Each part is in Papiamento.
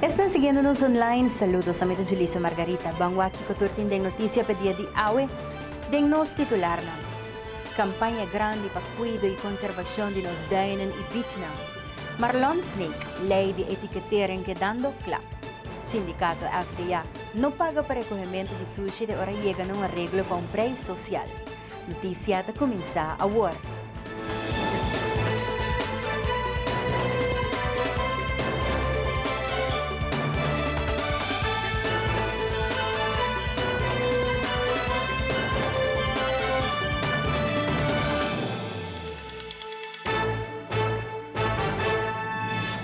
Esnan siguiendo nos online. Saludos, ami ta Julicio Margarita. Ban wak kico tur tin den noticia p'e dia di awe den nos titularnan. Campaña grandi pa cuido y conservacion di nos duinnan y bichnan. Marlon Sneek, ley di etiquetering kedando cla. Sindicato FTA no paga pa recohemento di sushi te ora yega na un areglo pa un prijs social. Notisia ta kuminsá awor.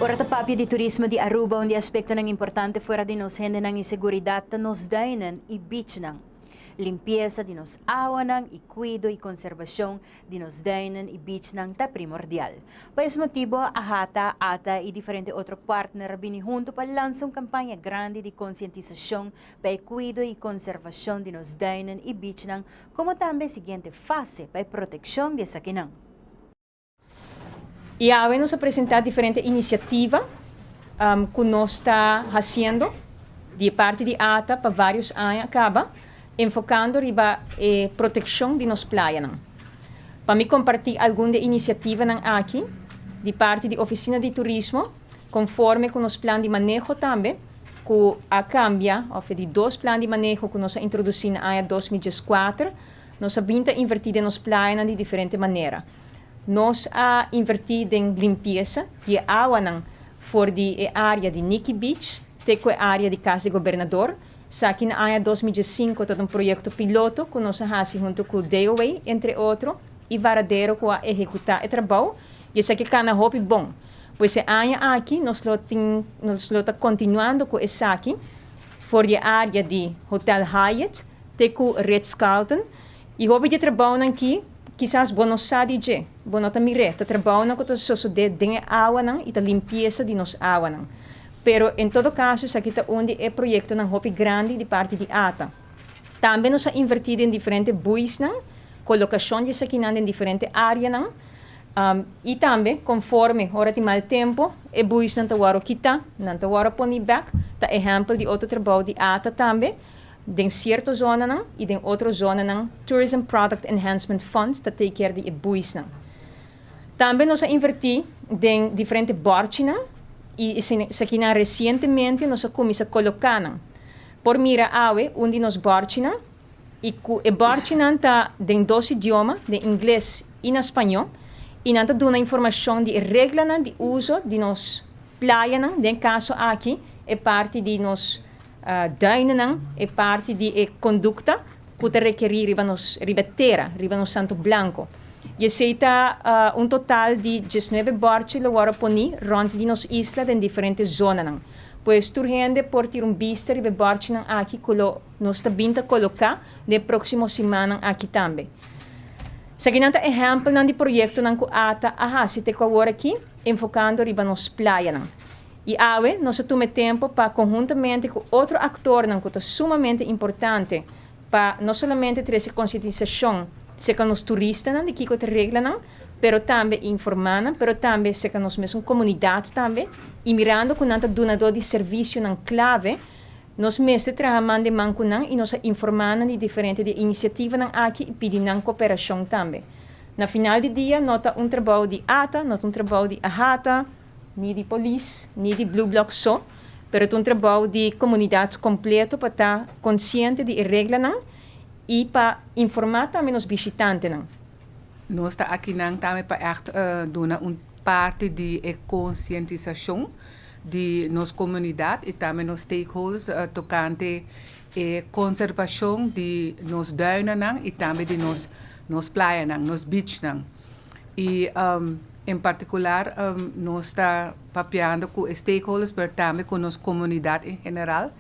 Ora ta papia di turismo di Aruba un di aspektonan importante fuera di nos hendenan i seguridat ta nos dainan i beachnan. Limpiesa di nos awanan i kuido i konserbashon di nos duinen i bichnan ta primordial. Pa es motibu a hata, ata i diferente otro partner a bini huntu pa lansa un kampaña grandi di konsientisashon pa e kuido i konserbashon di nos duinen i bichnan komo tambe e siguiente fase pa e protekshon di esakinan. Y awe nos a presenta diferente iniciativa cu nos ta haciendo di e parti di ata pa varios aña caba, enfocando riba e proteccion di nos playanan. Pa mi comparti algun di e iniciativanan aki di parti di Oficina di Turismo conforme cu nos plan di maneho tambe cu a cambia, of di dos plan di maneho cu nos a introduci na aña dos mil dieskuater, Nos a bin ta invertí den nos playanan di diferente manera. Nos a invertí den limpiesa di e awanan for di e área di Nikki Beach te ku e área di Kas di Gobernador. Esaki na aña dos mi diesinko ta un proyekto piloto ku nos a hasi huntu ku Deoway, entre otro, i Varadero ku a ehekutá e trabou i esaki kana hopi bon. Pues e aña aki nos lo tin nos lo ta kontinuando ku esaki for di e área di Hotel Hyatt, Te ku Ritz-Carlton i hopi di e trabounan ki, kisas bo no sa di dje, bo no ta mir'é, ta trabounan ku ta sosodé den e awanan i ta limpiesa di nos awanan. Pero, en todo kaso, esaki ta un di e proyektonan hopi grandi di parti di ata. Tambe nos a invertí den diferente buisnan, kolokashon di esakinan den diferente áreanan, i tambe konforme ora tin mal tempu e buisnan ta wòrdu kitá, nan ta wòrdu poní bèk, ta ehèmpel di otro trabou di ata tambe. Den cierto zonanan y den otro zonanan Tourism Product Enhancement Fund ta take care di e buisnan. Tambe nos a inverti den diferente bòrchinan y esakinan recientemente nos a cuminsa coloca nan. Por mira awe un di nos bòrchinan y cu e bòrchinan ta den dos idioma, den Ingles y na Spañó, y nan ta duna informacion di e reglanan di uso di nos playanan, den caso aki e parti di nos. Dañonan e parti di e kondukta ku ta rekerí riba nos riba e tera, riba nos Santo Blanko. I esei ta un total di diesnuebe bòrchi lo wòrdu poní rònt di nos isla den diferente zonanan. Pues tur hende por tira un bista riba e bòrchinan aki ku lo nos ta bin ta koloká den e próksimo simannan aki tambe. Esaki nan ta ehèmpelnan di proyektonan ku ata a hasi te ku aworakí, enfokando riba nos playanan. I awe nos a tuma e tempu pa konhuntamente ku otro aktornan ku ta sumamente importante pa no solamente trese konsientisashon serka nos turistanan di kiko ta reglanan pero tambe informá nan pero tambe serka nos mesun komunidat tambe i mirando ku nan ta dunadó di servisionan klave nos mester traha man den man ku nan i nos a informá nan di diferente di e inisiativanan aki i pidi nan koperashon tambe. Na final di dia no ta un trabou di ata no ta un trabou di a hata. Ni di polis, ni di Blue Bloc so, pero ta un trabou di komunidat kompleto pa ta konsiente di e reglanan i pa informá tambe nos bishitantenan. Nos ta akinan tambe pa ègt duna un parti di e konsientisashon di nos komunidat i tambe nos stakeholders tokante e konservashon di nos duinannan i tambe di nos playanan, nos beachnan. I en partikular nos ta papiando ku e stakeholders pero tambe ku nos komunidat en general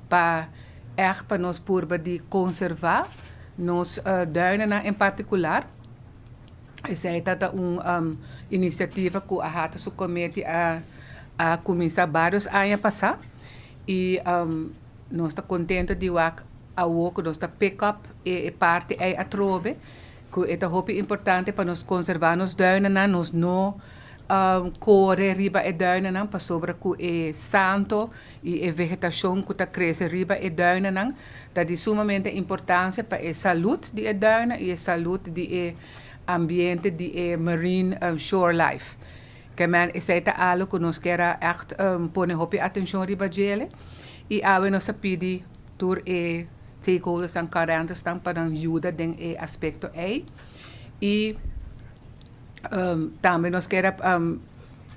pa ègt pa nos purba di konservá nos duinennan en partikular. Esei ta ta un inisiativa ku Ahato su komiti a a kuminsá bários aña pasá i nos ta kontento di wak awor ku nos ta pick up e parti ei atrobe. Cu e ta hopi importante pa nos conserva nos duinennan, nos no core riba e duinennan pasobra cu e santo y e vegetacion cu ta crece riba e duinennan ta di sumamente importancia pa e salud di e duinen y e salud di e ambiente di e marine shore life. Kemman esey ta algo cu nos kier a echt pone hopi atencion riba djele y awe nos ta pidi Tur e stakeholdersnan karentersnan pa nan yuda den e aspekto ei. I tambe nos keda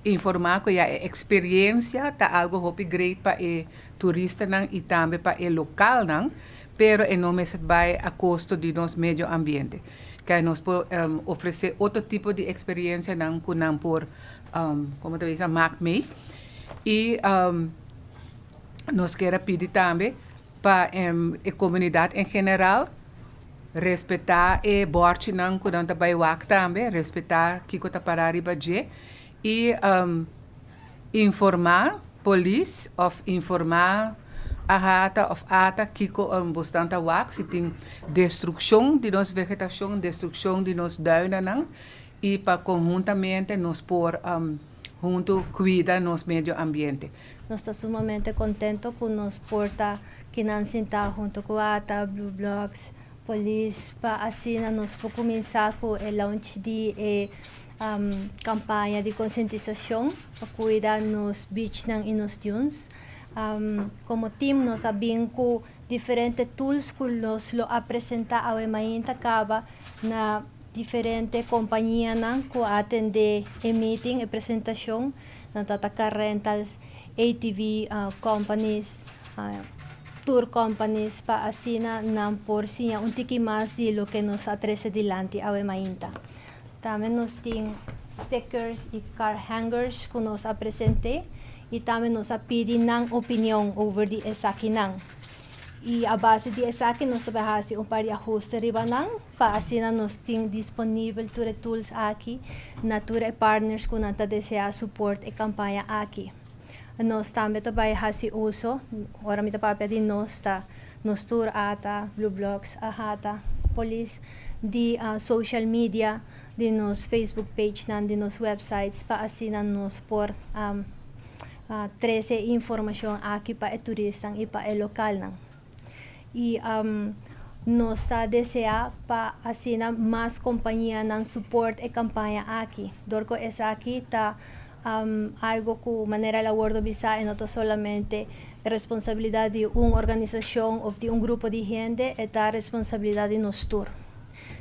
informá ku ya e eksperiensia ta algu hopi great pa e turistanan i tambe pa e lokalnan, pero e no mester bai a kosto di nos medio ambiente. Kei nos por ofresé otro tipo di eksperiensianan ku nan por, komo ta bisa, mak mee. I. Nos ker a pidi tambe pa e komunidat en general respetá e bòrchinan ku nan ta bai wak tambe, respetá kiko ta pará riba dje i informá polis òf informá ahata òf ata kiko bosnan ta wak, si tin destrukshon di nos vegetashon, destrukshon di nos dùinanan y pa conhuntamente nos por hunto cuida nos medio ambiente. Nos ta sumamente contento cu nos por ta kinan sinta hunto cu ata, Blue Blocks, Polis pa asina nos por cuminsa cu e launch di e campaña di concientisacion pa cuida nos beachnan y nos dunes. Como team nos a bin cu diferente tools cu nos lo a presenta awe mainta caba na. Diferente compañianan cu a atende e meeting, e presentacion, nan ta ta car rentals, ATV companies, tour companies pa asina nan por siña un tiki mas di loke nos a trece dilanti awe mainta. Tambe nos tin stickers y car hangers cu nos a presente y tambe nos a pidi nan opinion over di esakinan. I a base di esaki nos ta por hasi un par di ahuste riba nan, pa asina nos tin disponibel tur e tools aki na tur e partners ku nan ta desea suport e kampaña aki. Nos tambe ta bai hasi uso, ora mi ta papia di nos ta nos tur ata, BluBlox, Ahata, Polis, di social media, di nos Facebook pagenan, di nos websites pa asina nos por. a trece e informacion aki pa e turistan y pa e localnan. Y nos ta desea pa asina mas compañianan support e campaña aki, door cu esaki ta algo cu manera el a wordo bisa e no ta solamente responsabilidad di un organisacion of di un grupo di hende, e ta responsabilidad di nos tur.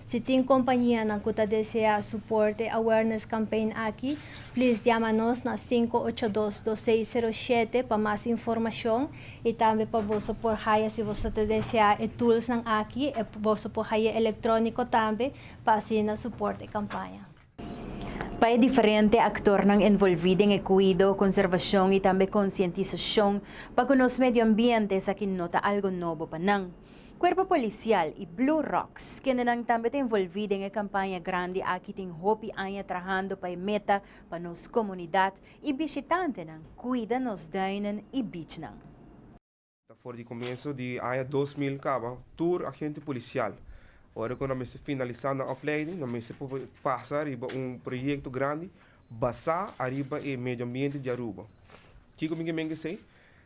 Si tin compañianan cu ta desea support e awareness campaign aki, please jama nos na sinku ocho dos dos seis sero shete pa mas informacion y tambe pa boso por haya si boso ta desea e toolsnan aki, boso por haya electronico tambe pa asina support e campaña. Pa e diferente aktornan envolví den e kuido, konservashon i tambe konsientisashon pa ku nos medio ambiente esaki no ta algo nobo pa nan. Kuerpo Polisial i Blue Rocks, kende nan tambe ta envolví den e kampaña grandi aki tin hopi aña trahando pa e meta pa nos komunidat i bishitantenan kuida nos duinen i bichnan. Ta for di comienso di aña dos mil caba tur agente policial ora cu nan mester finalisa nan opleiding nan mester por pasa riba un proyecto grandi basa ariba e medio ambiente di Aruba. Kico mi ke menge esey?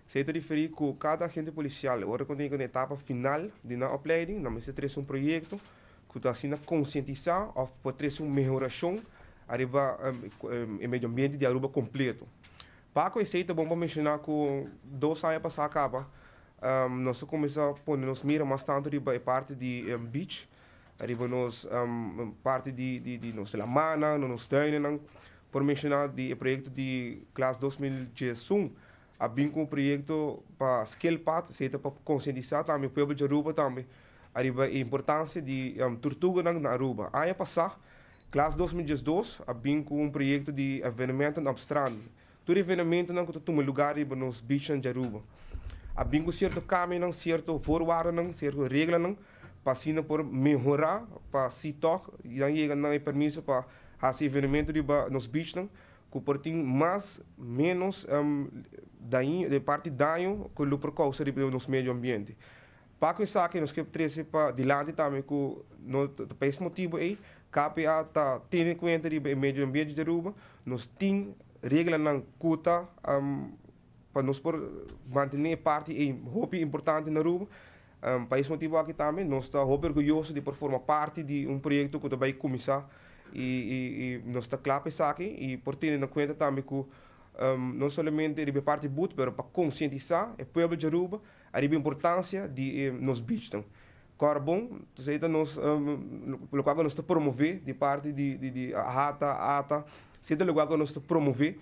Esey ta referi cu cada agente policial ora cu nan yega na etapa final di nan opleiding nan mester trece un proyecto cu ta asina concientisa of por trece un mehoracion ariba e medio ambiente di Aruba completo. Paco esey ta bon pa menciona cu dos aña pasa caba nos a cuminsa pone nos mira mas tanto riba e parti di beach, riba nos parti di nos lamannan, na nos tuinennan. Por menciona di e proyecto di Klas dos mil djiesun a bin cu un proyecto pa scale path, esey ta pa concientisa tambe pueblo di Aruba tambe ariba e importancia di tortuganan na Aruba. Aña pasa Klas dos mil diesdos a bin ku un proyekto di evenementonan op strand. Tur evenementonan ku ta tuma lugar riba nos bichnan di Aruba a bin ku sierto kambionan, sierto voorwaardenan, sierto reglanan pa asina por mehorá pa si tòg nan yega nan e permiso pa hasi evenemento riba nos bichnan ku por tin mas menos daño, de parti daño ku lo por kousa riba nos medio ambiente. Pa ku esaki nos ke trese pa dilanti tambe ku no ta pa es motibu ei KPA ta tene kuenta riba e medio ambiente di Aruba, nos tin reglanan ku ta pa nos por mantene e parti ei hopi importante na Aruba. Pa es motibu aki tambe nos ta hopi orguyoso di por forma parti di un proyekto ku ta bai kuminsá i nos ta kla pa esaki i por tene na kuenta tambe ku no solamente riba e parti but pero pa konsientisá e pueblo di Aruba Ariba importancia di e nos beachnan. Corbon, tus ey ta nos lugar cu nos ta promove di parti di Hata, Ata, esey ta lugar cu nos ta promove.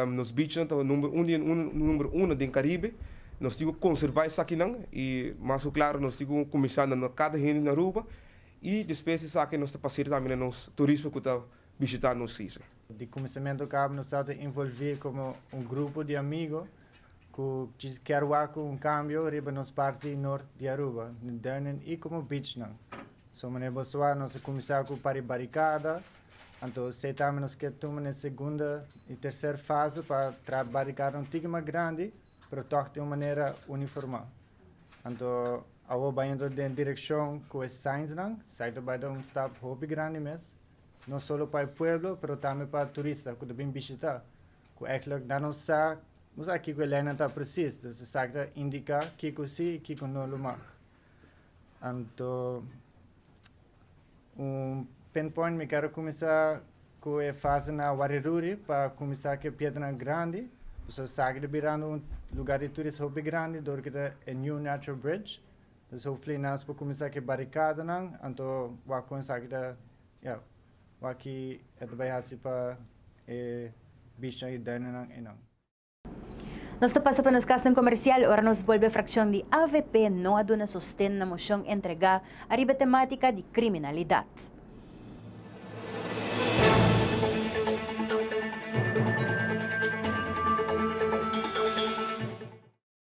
Nos beachnan ta number un den number uno den Caribe. Nos tin cu conserva esakinan y mas cu claro nos tin cu cuminsa na no cada hende na Aruba y despues di esaki nos ta pasear tambe na nos turismo cu ta bishita nos sisy. Di kuminsamentu kaba nos ta ta involvé komo un grupo di amigu ku kier wak ku un kambio riba nos parti nort di Aruba, den Durnan i komo bichnan. So manera bo sa, nos a kuminsá ku pari barikada, anto esei tambe nos kier tuma na e segunda i terser fase pa traha barikada un tiki mas grandi, pero tòg di un manera uniformal. Anto awor bainta den direkshon ku e signsnan, esei ta bai ta un stap hopi grandi mes. No solo pa e pueblo pero tambe pa turista ku ta bin bishitá, ku èklik nan no sa nos aki ku e leinan ta presis, dus esaki ta indiká kiko sí i kiko no lo mag. Anto un pinpoint mi kero kuminsá ku e fase na Wariruri pa kuminsá ku e piedernan grandi, pasobra esaki ta birando un lugá di turismo hopi grandi dor ki ta e New Natural Bridge. Nos hopi fla nas pa kuminsá ku e barikadanan, anto wak kon esaki ta ya, wak ki e ta bai hasi pa e bishnan i dañonan einan. Nos ta pasa pa nos kasnan komersial ora nos bolbe frakshon di avp no a duna sosten na moshon entregá ariba temátika di kriminalidat.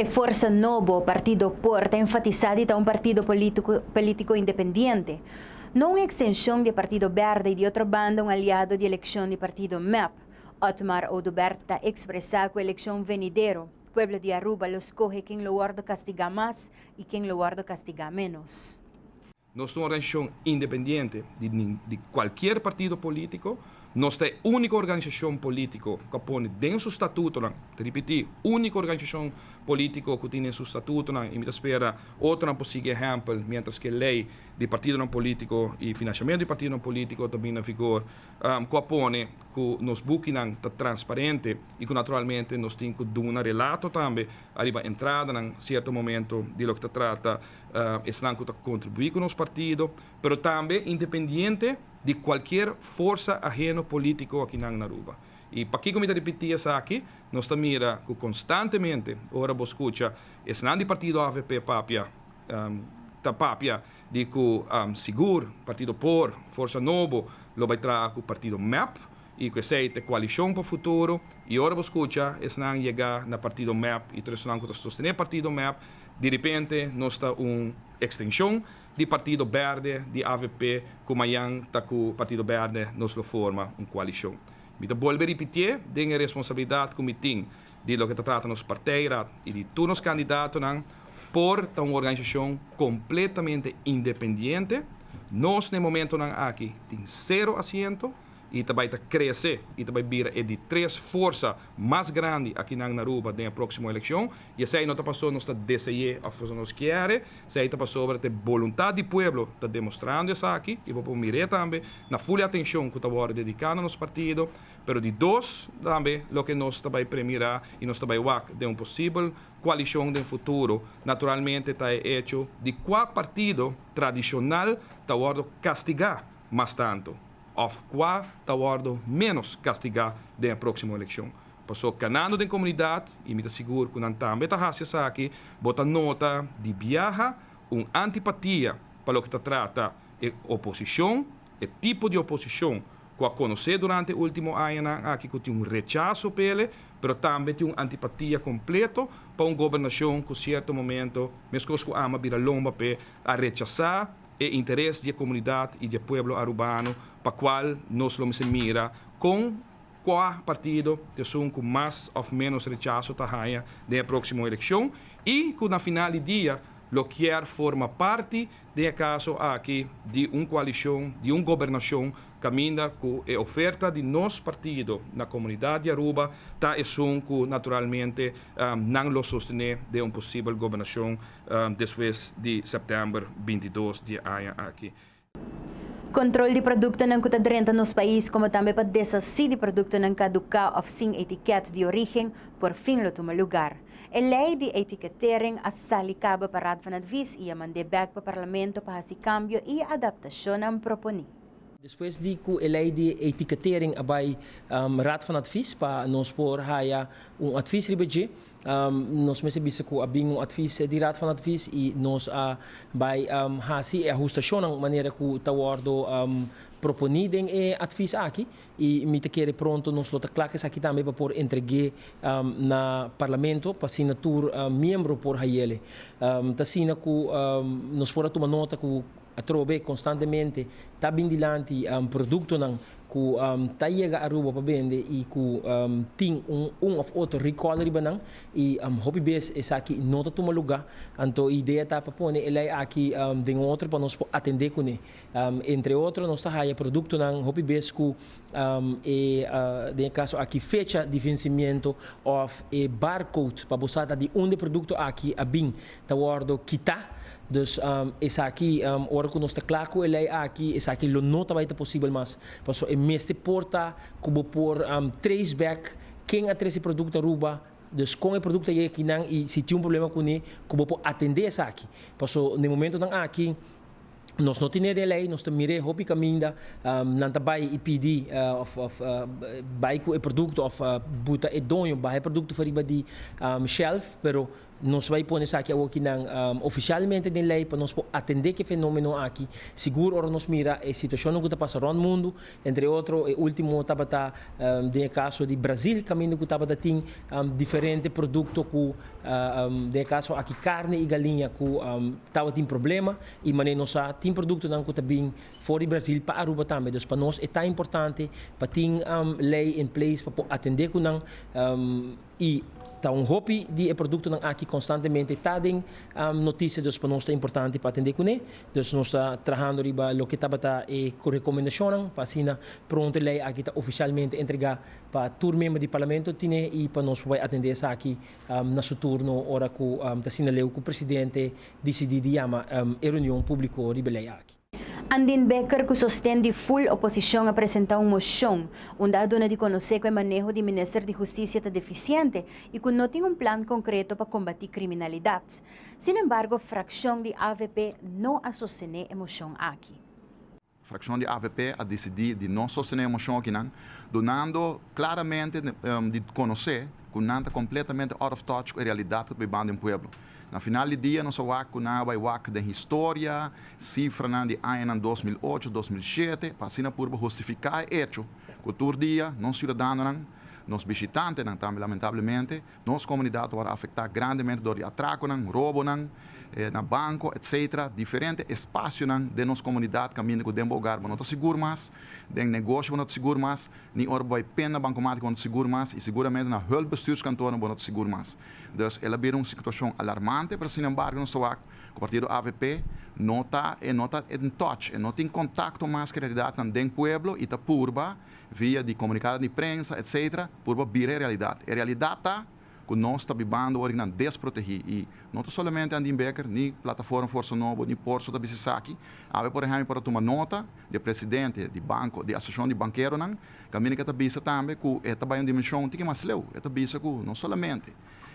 E forsa nobo Partido Por ta enfatisá di ta un partido polítiko polítiko independiente, no un ekstenshon di e Partido Bèrdè i di otro banda un aliado di elekshon di partido mep. Otmar Oduber ta ekspresá ku elekshon venidero, pueblo di Aruba lo skohe ken lo wòrdu kastigá mas i ken lo wòrdu kastigá ménos. Nos ta un organisacion independiente di cualkier partido politico. Nos ta e unico organisacion politico cu a pone den su statutonan, ta ripiti, unico organisacion politico cu tin den su statutonan y mi ta spera otronan por sigui e ehempel mientras cu e ley di partidonan politico y financiamento di partidonan politico ta bini na vigor, cu a pone cu nos bukinan ta transparente y cu naturalmente nos tin cu duna relato tambe ariba entradanan cierto momento di loke ta trata Esnan cu ta contribui cu nos partido, pero tambe independiente di cualkier forsa aheno politico akinan na Aruba. Y pakico mi ta ripiti esaki? Nos ta mira cu constantemente ora bo scucha esnan di partido avp papia, ta papia di cu sigur partido por, Forsa Nobo, lo bay traha cu partido mep y cu esey ta e coalicion pa futuro. Y ora bo scucha esnan yega na partido mep y tur esnan cu ta sostene partido mep, Di ripente nos ta un extension di Partido Berde di avp cu mayan ta cu Partido Berde nos lo forma un coalicion. Mi ta bolbe ripitié den e responsabilidad cu mi tin di loke ta trata nos partijraad y di tur nos candidatonan por ta un organisacion completamente independiente. Nos na e momentonan aki tin cero asiento. i ta bai ta krese i ta bai bira e di tres forsa mas grandi akinan na Aruba den e próksimo elekshon. I esei no ta pasobra nos ta dese'é òf pasobra nos kièr'é, esei ta pasobra ta e boluntat di pueblo ta demostrando esaki. I bo por mir'é tambe na ful e atenshon ku ta wòrdu dediká na nos partido. Pero di dos tambe loke nos ta bai premirá i nos ta bai wak den un posibel koalishon den futuro naturalmente ta e echo di kua partido tradishonal ta wòrdu kastigá mas tantu. òf kua ta wòrdu ménos kastigá den e próksimo elekshon. Pasó kanando den komunidat, i mi ta sigur ku nan tambe ta hasi esaki, bo ta nota di biaha un antipatia pa loke ta trata e oposishon, e tipo di oposishon ku a konosé durante e último añanan aki ku tin un rechaso pa ele, pero tambe tin un antipatia kompleto pa un gobernashon ku sierto momento meskos ku Ama bira lomba p'e a rechasá. e interes di e komunidat i di e pueblo arubano pa kual nos lo mester mira kon kua partido ta esun ku mas òf ménos rechaso ta haña den e próksimo elekshon i ku na final di dia lo kier forma parti den e kaso aki di un koalishon di un gobernashon kaminda ku e oferta di nos partido na komunidat di Aruba ta esun ku naturalmente nan lo sostené den un posibel gobernashon despues di sèptèmber binti dos di e aña aki. Kontrol di produktonan ku ta drenta nos pais komo tambe pa desasí di produktonan kaduká òf sin etikèt di orígen por fin lo tuma lugar. E lei di etiketering a sali kaba pa Raad van Advies i a mand'é bèk pa Parlamento pa hasi kambio i adaptashonnan proponí. Despues di ku e lei di etiketering a bai Raad van Advies pa nos por haya un advis riba dje, Nos mester bisa ku a bin un atvis di Raad van Advies i nos a bai hasi e ahustashonnan manera ku ta wòrdu proponí den e atvis aki i mi ta kere pronto nos lo ta kla ku esaki tambe pa por entreg'é na Parlamento pa asina tur miembro por haiel. T'asina ku nos por a tuma nota ku Atrobe konstantemente ta bin dilanti produktonan ku ta yega Aruba pa bende i ku tin un òf otro rikòl riba nan i hopi bes esaki no ta tuma lugá. Anto e idea ta pa pone e lei aki den otro pa nos por atendé kuné. Entre otro nos ta haya produktonan hopi bes ku e den e kaso aki fecha di vensimiento òf e barcode pa bo sa ta di unda e produkto aki a bin. ta wòrdu kitá. Dus, esaki, ora ku nos ta kla ku e lei aki, esaki lo no ta bai ta posibel mas. Pasobra e mester por ta ku bo por trace back ken a tres e produkto Aruba, dus kon e produkto a yega akinan i si tin un problema kuné, ku bo por atendé esaki. Pasobra den momentonan aki nos no tenedor e lei, nos ta mir'é hopi kaminda nan ta bai i pidi òf òf bai ku e produkto òf buta e doño baha e produkto fariba di shelf, pero. Nos bai pone esaki awoki nan ofisialmente den lei pa nos por atende ku e fenomeno aki. Sigur ora nos mira e situashonnan ku ta pasa rònt mundu, entre otro e último tabata den e kaso di Brazil kaminda ku tabata tin diferente produkto ku den e kaso aki karni i galiña ku tabatin problema i manera nos sa tin produktonan ku ta bin for di Brazil pa Aruba tambe. Dus pa nos e ta importante pa tin lei en place pa por atende ku nan. I ta un hopi di e produktonan aki konstantemente ta den notisia, dus pa nos ta importante pa atendé kuné. Dus nos ta trahando riba loke tabata e rekomendashonnan pa asina pronto e lei aki ta ofisialmente entregá pa tur member di Parlamento tine i pa nos por bai atendé esaki na su turno ora ku ta sinal'eu ku presidente disidí di yama e reunion públiko riba e lei aki. Andin Becker cu sosten di full oposicion a presenta un mocion unda a duna di conoce cu e maneho di Minister di Husticia ta deficiente y cu no tin un plan concreto pa combati criminalidad. Sin embargo fraccion di avp no a sostene e mocion aki. Fraccion di avp a decidi di no sostene e mocion akinan, dunando claramente di conoce cu nan ta completamente out of touch cu e realidad cu ta bay banda den pueblo. Na final di dia nos a wak ku nan a bai wak den historia, sifranan di añanan dos mil ocho, dos mil shete pa asina purba hustifiká e echo ku tur dia nos siudadanonan, nos bishitantenan tambe lamentablemente, nos komunidat a wòrdu afektá grandemente dor di atrakonan, robonan na banko etc. Diferente espasionan den nos komunidat kaminda ku den bo ogar bo no ta sigur mas, den negoshionan bo no ta sigur mas. Ni ora bo a pen na bankomat bo no ta sigur mas i siguramente na hulpbestuurskantoren bo no ta sigur mas. Dus el a bira un situashon alarmante, pero sinembargo nos ta wak ku partido avp no ta e no ta in touch, e no tin kontakto mas ku e realidatnan den pueblo i ta purba via di komunikadonan di prensa etcetera purba bira e realidat. E realidat ta. ku nos ta bibando ora nan desprotehí i no ta solamente Andin Becker ni Plataforma Forso Nobo ni Porso ta bisa esaki, awe por ehèmpel para tuma nota di e presidente di banko di Asosiashon di Bankeronan kaminda ku e ta bisa tambe ku e ta bai un dimenshon tiki mas leu, e ta bisa ku no solamente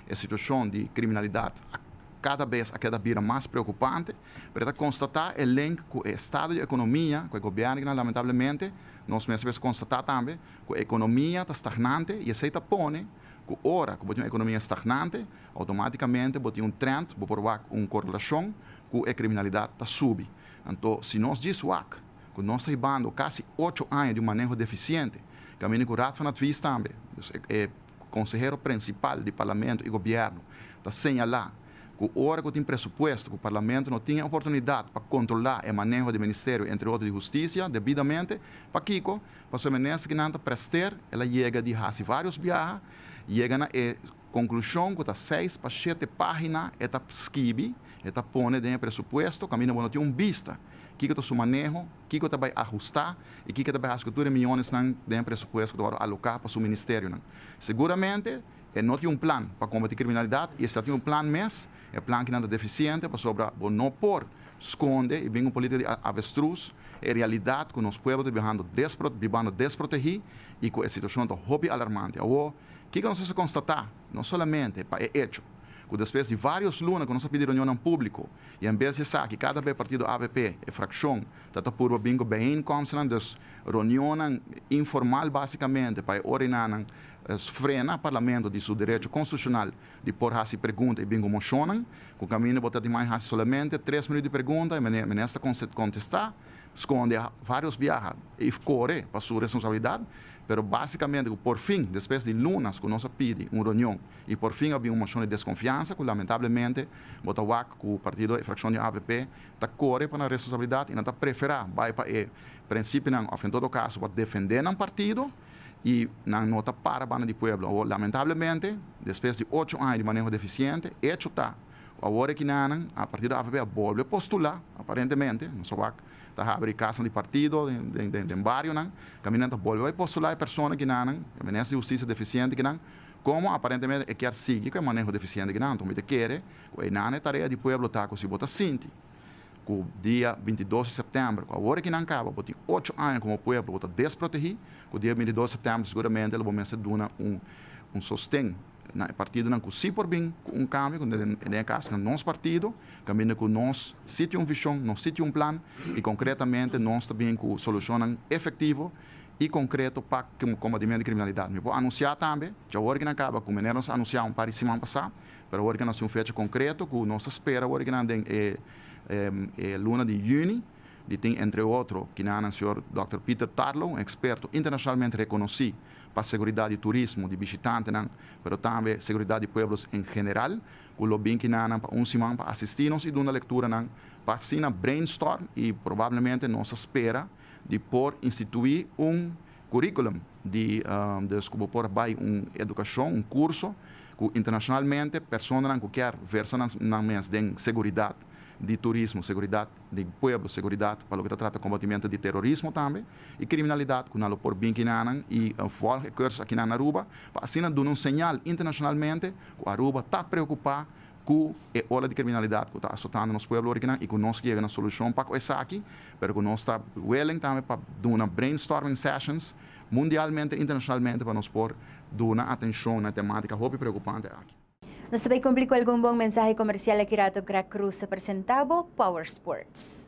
e situashon di kriminalidat a kada bes a keda bira mas preokupante pero e ta konstatá e link ku e estado di ekonomia ku e gobièrnu di kinan lamentablemente nos mester bes konstatá tambe ku e ekonomia ta stagnante i esei ta pone Cu ora cu bo tin un economia stagnante, automaticamente bo tin un trend, bo por wak un correlacion cu e criminalidad ta subi. Anto, si nos djis wak cu nos ta hibando casi ocho aña di un maneho deficiente, caminda cu Raad van Advies tambe, dus e consehero principal di Parlamento y Gobierno, ta señala cu ora cu tin presupuesto cu Parlamento no tin e oportunidad pa controla e maneho di Ministerio, entre otro di Husticia, debidamente, pakico? Pasobra menes ke nan ta prester, el a yega di hasi vários biaha, yega na e konklushon ku ta seis pa shete página, e ta skibi, e ta pone den e presupuesto, kaminda bo no tin un bista kiko ta su maneho, kiko ta bai ahustá i kiko ta bai hasi ku tur e miónesnan den e presupuesto ku ta wòrdu aloká pa su ministerionan. Seguramente e no tin un plan pa kombatí kriminalidat i e si ta tin un plan mes, E plan kinan ta defisiente pasobra bo no por skonde i bin un politika di avestrus e realidat ku nos pueblo ta bihando despro bibando desprotegí i ku e situashon ta hopi alarmante. Awo, kiko nos mester konstatá? No solamente pa e echo ku despues di varios luna ku nos a pidi reunionnan públiko i en bes di esaki kada be partido avp e frakshon ta ta purba bin ku bijeenkomstnan dus reunionnan informal basikamente pa e ora inannan frena parlamento di su derecho konstitushonal Di por hasi pregunta i bingo mocionnan, ku kaminda bo ta di mai hasi solamente tres minut di pregunta i mene Minister ta kontestá, skonde vários biaha i kore pa su responsabilidat, pero básikamente ku porfin, despues di lunas ku nos a pidi un reunion i porfin a bin un mocion di deskonfiansa ku lamentablemente bo ta wak ku partido e frakshon di avp ta kore pa nan responsabilidat i nan ta preferá bai pa e prensipinan òf en todo kaso pa defendé nan partido. y nan no ta para banda di pueblo. Awor, lamentablemente, despues di ocho aña di maneho deficiente, hecho ta cu awor e kinanan a partir di avp a bolbe postula, aparentemente, nos a wak ta habri e casnan di partido den barionan, caminda nan ta bolbe bay postula e persona kinanan, e minister di Husticia deficiente kinan, como aparentemente e kier sigui cu e maneho deficiente kinan. Anto mi ta kere cu enan e tarea di pueblo ta cu si bo ta sinti Ku dia binti i dos di sèptèmber, ku awor aki nan kaba, bo tin ocho aña komo pueblo, bo ta desprotegí. Ku dia binti i dos di sèptèmber seguramente lo bo mester duna un sosten na e partidonan ku si por bin ku un kambio, ku den e kas na nos partido, kaminda ku nos si tin un vishon, nos si tin un plan i konkretamente nos ta bin ku solushonnan efektivo i konkreto pa kombatimentu di kriminalidat. Mi por anunsiá tambe, dja awor aki nan kaba, ku manera nos a anunsiá un par di siman pasá, Pero awor ke nos tin un fecha konkreto ku nos ta spera awor ke nan den e e luna di yüni di tin entre otro kinanan señor Dòkter Peter Tarlow, un eksperto internashonalmente rekonosí pa seguridat di turismo di bishitantenan pero tambe seguridat di pueblos en general ku lo bin kinanan pa un siman pa asistí nos i duna lekturanan pa asina brainstorm i probablemente nos ta spera di por instituí un Curriculum di des cu bo por bay un educacion, un curso cu internacionalmente personanan cu kier versa nan mes den seguridad di turismo, seguridad di pueblo, seguridad pa loke ta trata combatimento di terorismo tambe y criminalidad cu nan lo por bin kinanan y volg e cursus akinan na Aruba pa asina duna un señal internacionalmente cu Aruba ta preocupa cu e ola di criminalidad cu ta asotando nos pueblo originan y cu nos ke yega na solucion pa cu esaki, pero cu nos ta willing tambe pa duna brainstorming sessions mundialmente, internacionalmente pa nos por duna atencion na e tematica hopi preocupante aki. Nos ta bay cumpli cu algun bon mensahe comercial aki rato Grac Cruz ta presenta bo Power Sports.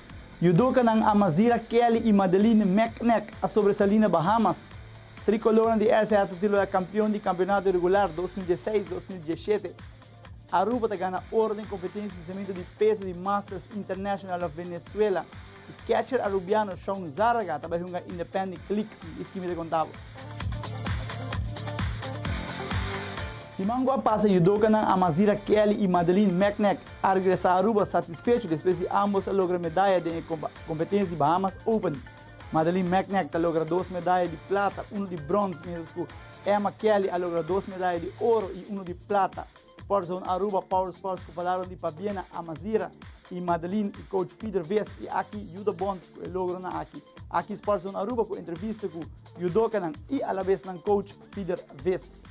Yudokanan Amazira Kelly i Madeline Meknek a sobresalí na Bahamas. Tricolornan di RCR ta titularidad kampion di kampionato regular dos mil dieseis, dos mil dieshete. Aruba ta gana oro den kompetensia di samentu di peso di Masters International of Venezuela i catcher arubiano Shaun Zarraga ta bai hunga Independi Click di Iskimi ta konta bo. Siman ku a pasa yudokanan Amazira Kelly i Madeline Meknek a regresa Aruba satisfecho despues di ambos a logra medaya den e competencia di Bahamas Open. Madeline Meknek ta logra dos medaya di plata, uno di bronce, mientras cu Emma Kelly a logra dos medaya di oro y uno di plata. Sport Zone Aruba Power Sports cu palabra di Fabiena Amazira y Madeline y coach Fider Ves y aki yuda bon cu e logronan aki. Aki Sport Zone Aruba cu entrevista cu yudocanan y alabes nan coach Fider Ves.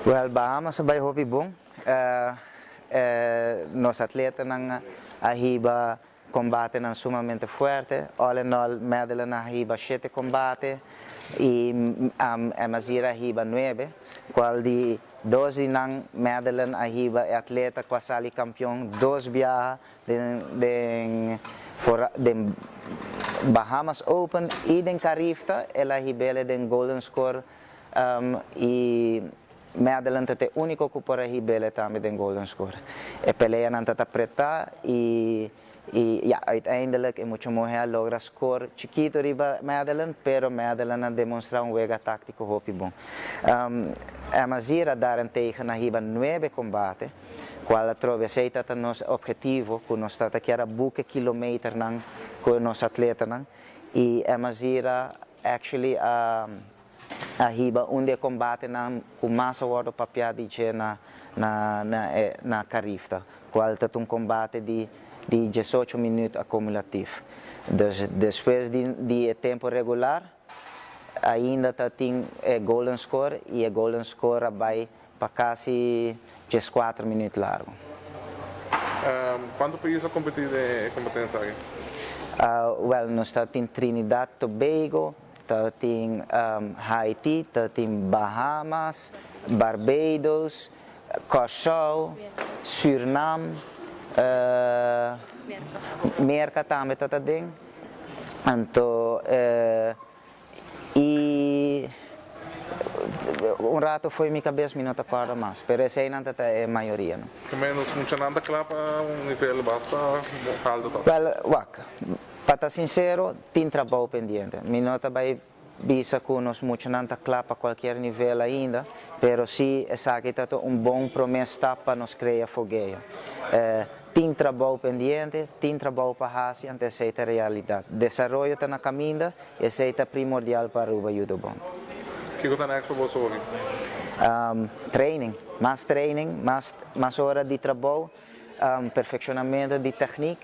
Well Bahamas a bai hopi bon, e nos atletanan a hiba Combatenan sumamente fuerte, all in all Madeline a hiba shete combate y Emazira a hiba nuebe, cual di dos di nan Madeline a hiba e atleta cu a sali campeon dos biaha den den Bahamas Open y den Carifta el a hibele den Golden Score y Madeline ta ta e unico cu por a hibele tambe den Golden Score. E peleanan ta ta preta y y ya uiteindelek e mucho mohe a logra score chikito riba Madeline pero Madeline a demonstra un wega tactico hopi bon. Emma Zier a daren tegen na hiba nuebe combate cual atrobe esey ta ta nos objetivo cu nos ta ta kier a buke kilometernan cu nos atletanan y Emma Zier a Actually a hiba un di e combatenan cu mas a wordo papia di dje na Carif ta cual ta un combate di diesocho minuut acumulatief. Dus despues di e tempo regular ainda ta tin e golden score y e golden score a bay Pa casi diescuater minuut largo. Cuanto pais a competi den e competencia aki? Wel nos ta tin Trinidad Tobago, ta tin Haiti, ta tin Bahamas, Barbados, Curaçao, Surinam, Merca tambe ta ta den. I un rato fo'i mi kabes mi no ta kòrda mas, pero eseinan ta ta e mayoria no. Ku ménos mushanan ta kla pa un nivel basta haltu tabata? Wèl, wak, pa ta sinsero tin trabou pendiente. Mi no ta bai bisa ku nos mushanan ta kla pa kualkier nivel ainda, pero si esaki ta ta un bon promé stap pa nos krea fogueo. Tin trabou pendiente, tin trabou pa hasi ante esei ta realidat. Desaroyo ta na kaminda i esei ta primordial pa Aruba Judo Bond. Kiko ta nèks pa boso hopi? Training, mas training, mas ora di trabou, perfekshonamentu di teknik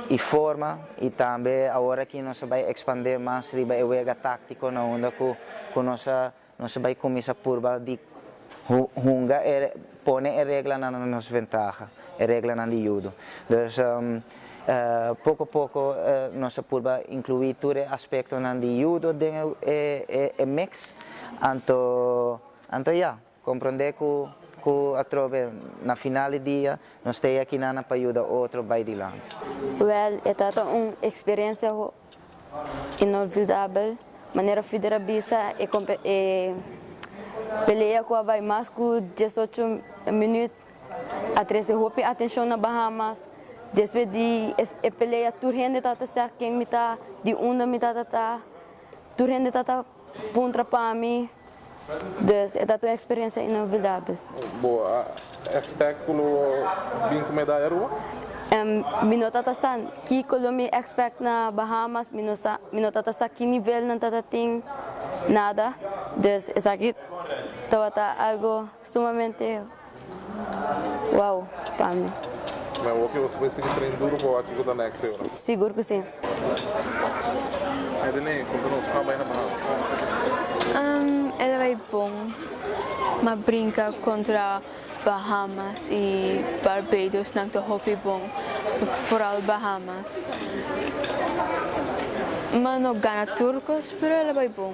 i forma i tambe awor aki nos a bai ekspandé mas riba e wega táktiko na unda ku nos a Nos bai kuminsá purba di hunga pone e reglanan na nos ventaha, e reglanan di yudu. Dus poko a poko nos a purba inkluí tur e aspektonan di yudu den e miks, anto anto ya, komprondé ku atrobe na final di dia nos ta e akinana pa yuda otro bai dilanti. Wèl e tabata un eksperensia Inolvidabel manera Fider a bisa e pelea cu a bay mas cu diesocho minuut a trece hopi atencion na Bahamas. Despues di e pelea tur hende tabata sa ken mi ta, di unda mi tabata ta, tur hende tabata. Puntra pa mi, dus, e ta un experiencia inolvidable. Bo a expect cu lo bin cu medaya Ruba? Em, mi no ta ta sa kico lo mi expect na Bahamas, mi no sa, mi no ta ta sa ki nivel nan ta ta tin, nada, dus esaki tabata algo sumamente. Wow pa mi. Nan wak yo sigue sigue train duro pa wak kiko ta next year na. Sigur cu si. Adeline, conta nos cu a bai na Bahamas? Um, e ta bai bon. M'a brinca contra Bahamas y Barbados, nan ta hopi bon, foral Bahamas. M'a no gana tur cos, pero e ta bai bon.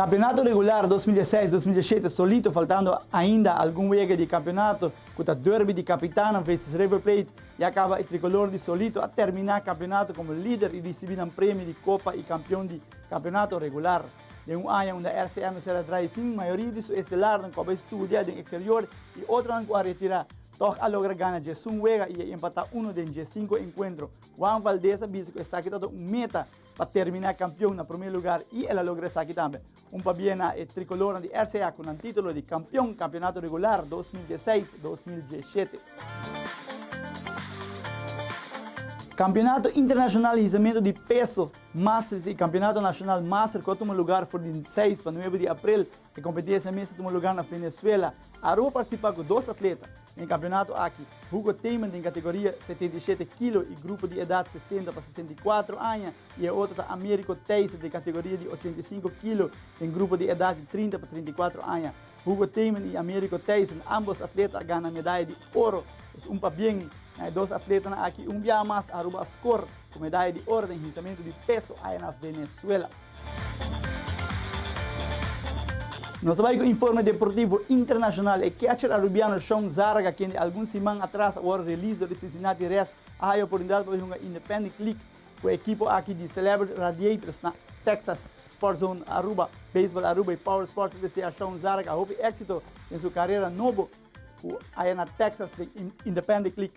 Campeonato regular dos mil diesseis, dos mil dieschete solito faltando ainda algun wega di campeonato cu ta derby di capitanan veces River Plate ya caba y Tricolor di solito a termina campeonato como lider y ricibi nan premio di copa y campeon di campeonato regular den un aña unda RCM no ser a draai sin mayoria di su estelarnan cu a bay studia den exterior y otronan cu a retira toch a logra gana diesun wega y a empata uno den diescinco encuentro Juan Valdez a bisa cu esaki tabata un meta pa termina campeon na prome lugar y el a logra esaki tambe. Un pabia na e Tricoloran di RCA cu nan titulo di campeon campeonato regular dos mil diesseis, dos mil dieschete. Campeonato Internacional Hizamento di Peso, Masters y Campeonato Nacional Master cu a tuma lugar for di seis pa nuebe di April E kompetensha mester tuma lugá na Venezuela. Aruba partisipa ku dos atleta na e kampionato aki, Hugo Theman den kategoria setenta i shete kilo i grupo di edat sesenta pa sesenta i kuatro aña i e otro ta Américo Thijssen den kategoria di ochenta i sinku kilo den grupo di edat di trinta pa trinta i kuatro aña. Hugo Theman i Américo Thijssen ámbos atleta a gana medaya di oro. Es un pabien, na e dos atletanan aki un biaha mas Aruba a skor. Komedai di orden hinsamentu di peso aya na Venezuela. Nos a bai ku informe deportivo internashonal. E kècher arubiano Shaun Zarga, kende algun siman atras a wòrdu relis dor di Cincinnati Reds, a haya oportunidat pa bai hunga Independent League ku e ekipo aki di Celebrity Radiators na Texas. Sport Zone Aruba, Baseball Aruba i Power Sports ta desea Shaun Zarga hopi éksito den su karera nobo ku aya na Texas den Independent League.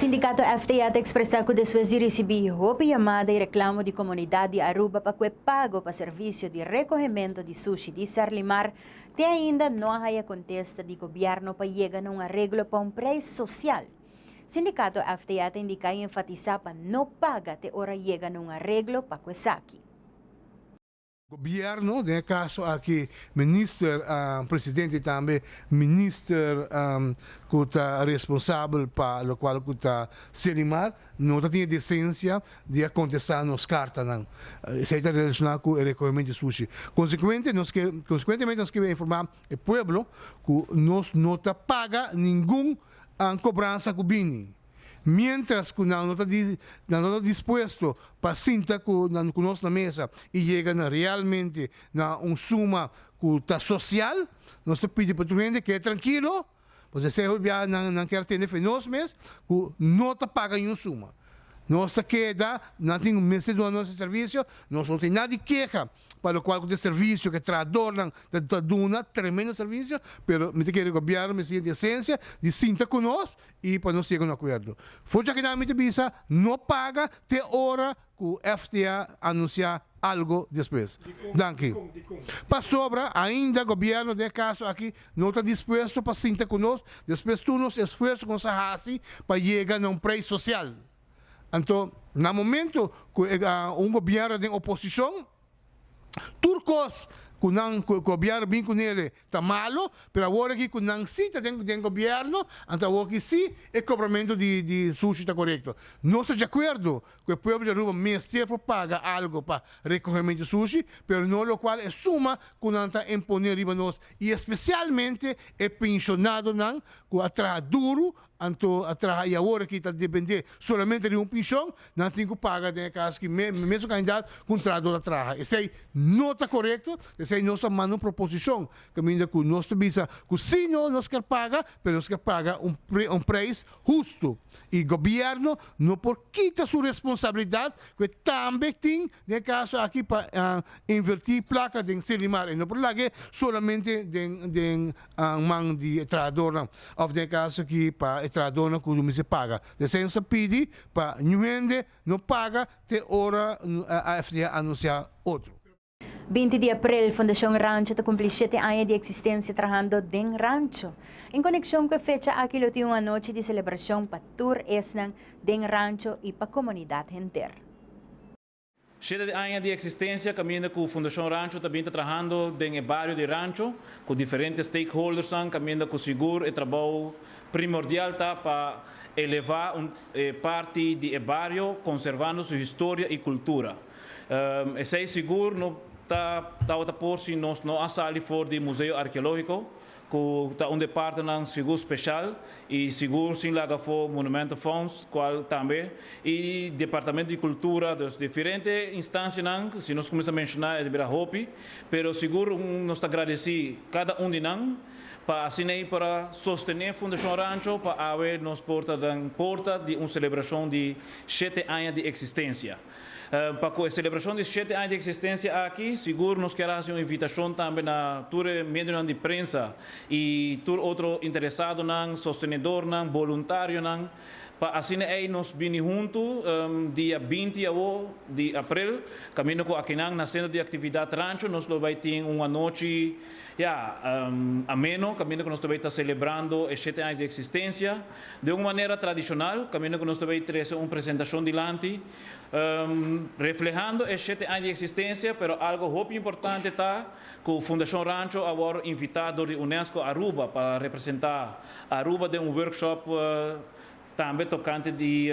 Sindikato FTA ta ekspresá ku despues di risibí hopi yamada i reklamo di komunidat di Aruba pa kue pago pa servisio di rekohementu di sushi di Serlimar Te ainda no a haya contesta di gobierno pa yega na un areglo pa un prijs social. Sindicato FTA ta indica y enfatisa pa no paga te ora yega na un areglo pa cu esaki. Gobierno, den e caso aki Minister, Presidente tambe Minister cu ta responsabel pa locual cu ta CENIMAR. No ta tin e decencia di a contesta nos cartanan. Esey ta relaciona cu e recohemento di sushi. Consecuente, nos ke consecuentemente nos ke informa e pueblo cu nos no ta paga ningun cobransa cu bini mientras cu nan no ta di nan no ta dispuesto pa sinta cu nan cu nos na mesa y yega na realmente na un suma cu ta social, nos ta pidi pa tur hende keda trankilo. Pues esei hopi bia nan nan kier tene fe nos mes ku no ta paga ni un suma. Nos ta keda, nan tin un mes di duna nos e servisio, nos no tin nada di keha pa lo kual ku ta e servisio ku e trahadornan ta ta duna tremendo servisio, pero mi ta kere gobièrnu mester yega di esensia di sinta ku nos i pa nos yega un akuerdo. For cha kinan mi ta bisa no paga te ora cu FTA anuncia algo despues. Danki. Pasobra ainda gobierno den e caso aki no ta dispuesto pa sinta cu nos despues tur nos esfuerzo cu nos a haci pa yega na un prijs social. Anto, na momento cu e un gobierno den oposicion. Tur kos ku nan ku e gobièrnu bin ku nele ta malu, pero awor aki ku nan si ta den den gobièrnu, anto awor aki si e kobramentu di di sushi ta korekto. Nos ta diakuerdo ku e pueblo di Aruba mester por paga algu pa rekohementu sushi, pero no lokual e suma ku nan ta imponé riba nos, i espesialmente e penshonadonan ku a traha duru Anto a traha y awor aki ta depende solamente di un pension, nan a tin cu paga den e cas aki mes, mesun cantidad cu un trahador a traha. Esey no ta corecto, esey nos a manda un proposicion caminda cu nos ta bisa cu si no nos ker paga, pero nos ker paga un prijs husto y gobierno no por kita su responsabilidad cu e tambe tin den e caso aki pa inverti placa den Sylvimar, e no por laga solamente den man di e trahadornan òf den e kaso ki pa e trahadornan ku ruminsha paga. De esen nos a pidi pa Ñu Hende no paga te ora AFT a anunsiá otro. Binti di aprel Fundashon Rancho ta kumpli shete aña di eksistensia trahando den rancho. En konekshon ku e fecha aki lo tin un anochi di selebrashon pa tur esnan den rancho i pa komunidat henter. Sheda di aña di eksistensia kaminda ku Fundashon Rancho ta bin ta trahando den e bario di Rancho ku diferente stakeholdersnan kaminda ku sigur e trabou primordial ta pa elevá un parti di e bario konservando su historia i kultura. Esei sigur no ta tabata por si nos no a sali for di Museo Arkeológiko ku ta un departenan sigur speshal i sigur sin laga afó Monumentenfonds kual tambe i Departamento di Kultura dus diferente instansianan si nos kuminsá menshoná e ta bira hopi pero sigur nos ta gradesí kada un di nan pa asin'ei para sostené Fundashon Rancho pa awe nos por ta den porta di un selebrashon di shete aña di eksistensia. Pa cu e celebracion di shete aña di existencia aki, sigur nos kier a haci un invitacion tambe na tur e medionan di prensa y tur otro interesadonan, sostenedornan, boluntarionan, pa asina ey nos bini huntu dia binti awo di april, caminda cu akinan na Centro di Actividad Rancho nos lo bay tin un anochi, ya, ameno, caminda cu nos ta bay ta celebrando e shete aña di existencia. Den un manera tradishonal, kaminda ku nos ta bay trese un presentashon dilanti, reflehando e shete aña di eksistensia, pero algu hopi importante ta ku Fundashon Rancho a wòrdu invitá dor di Unesco Aruba pa representá Aruba den un workshop tambe tokante di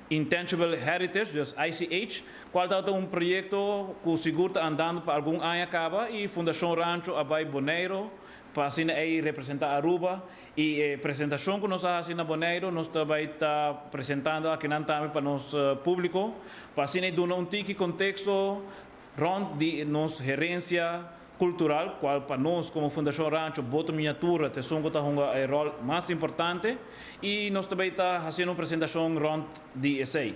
Intangible Heritage, dus ICH, kual tabata un proyekto ku sigur ta andando pa algun aña kaba i Fundashon Rancho a bay Boneiro pa asina ei representá Aruba Y e presentacion cu nos a haci na Boneiru nos ta bay ta presentando akinan tambe pa nos publico pa asina e duna un tiki contexto rond di nos herencia cultural cual pa nos como Fundacion Rancho Boto Miniatura ta esun cu ta hunga e rol mas importante y nos ta bay ta haciendo un presentacion rond di esey.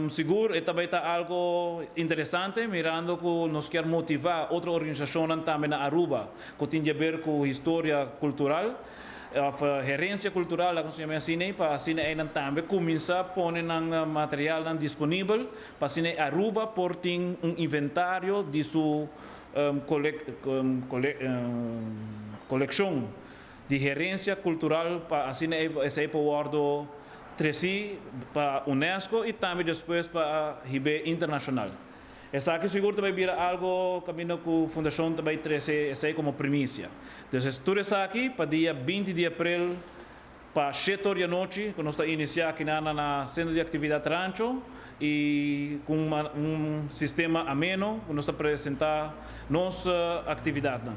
Sigur e ta bai ta algo interesante mirando cu nos kier motiva otro organisacionnan tambe na Aruba cu tin diaber cu historia cultural of herencia cultural laga nos yama e asin'ei pa asina einan tambe cuminsa pone nan materialnan disponibel pa asina e Aruba por tin un inventario di su coleccion. di herencia cultural pa asina esei por wordo treci pa Unesco y tambe despues pa hib'e internacional. Esaki sigur ta bay bira algo caminda cu Fundacion ta bay trece esei como primicia. Dus es tur esaki pa dia binti di april pa shete or di anochi cu nos ta inicia akinan na na Centro di Actividad Rancho y cu un sistema ameno cu nos ta presenta nos actividadnan.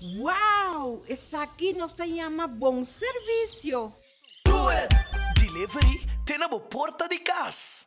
Wow! Esaki nos ta yama bon servisio! Delivery te na bo porta di cas.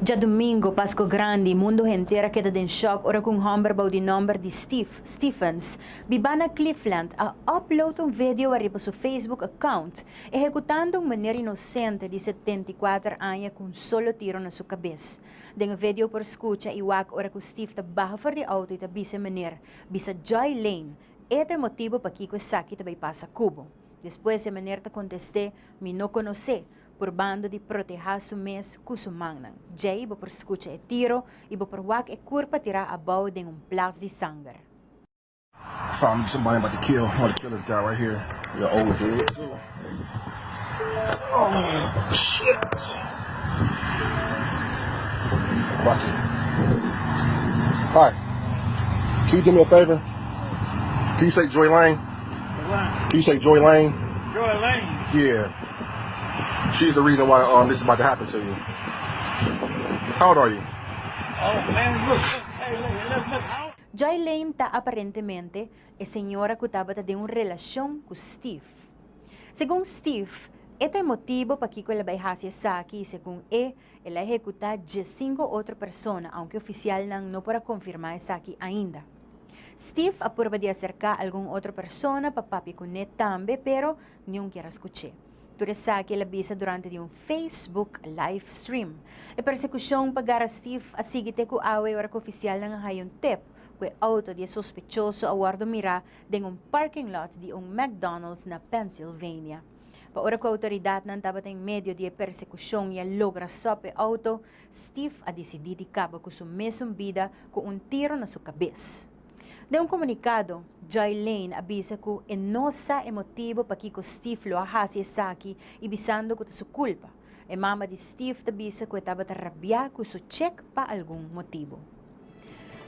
Djadumingu, Pasku Grandi, mundu henter a keda den shòk ora ku un hòmber bou di nòmber di Steve, Stephens, bibá na Cleveland, a upload un video ariba su Facebook account, ehekutando un meneer inosente di setenta i kuater aña ku un solo tiro na su kabes. Den e vedio por skucha i wak ora ku Steve ta baha for di outo i ta bisa e meneer, Bisa Joy Lane, e ta e motibu pakiko esaki ta bai pasa kubo. Despues e meneer ta kontest'é, Mi no konos'é, Purbando di protehá su mes ku su mannan, djei bo por skucha e tiro i bo por wak e kur pa tirá abou den un plas di sanger. She is the reason why um this is about to happen to you. How old are you? Jayleen ta aparentemente e señora cu tabata den un relacion cu Steve. Segun Steve, e ta e motibo pakico el a bay haci esaki y segun e, el a ehecuta diesinco otro persona, aunke oficialnan no por a confirma esaki ainda. Steve a purba di acerca algun otro persona pa papia cune tambe, pero Niun kier a skuché. Tur esaki el a bisa durante di un Facebook live stream. E persekushon pa Gara Stief a sigui te ku awe ora ku ofisialnan a haya un tep ku e outo di e sospechoso a wòrdu mirá den un parking lot di un McDonald's na Pennsylvania. Pa ora ku outoridatnan tabata en medio di e persekushon i a logra sòp e outo, Stief a disidí di kaba ku su mesun bida ku un tiro na su kabes. Den un komunikado, Jay Lane a bisa ku e no sa e motibu pakiko Steve lo a hasi esaki i bisando ku ta su kulpa. E mama di Steve ta bisa ku e tabata rabiá ku su chek pa algun motibu.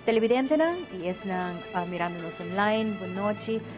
Televidentenan i esnan mirando nos online, bon nochi.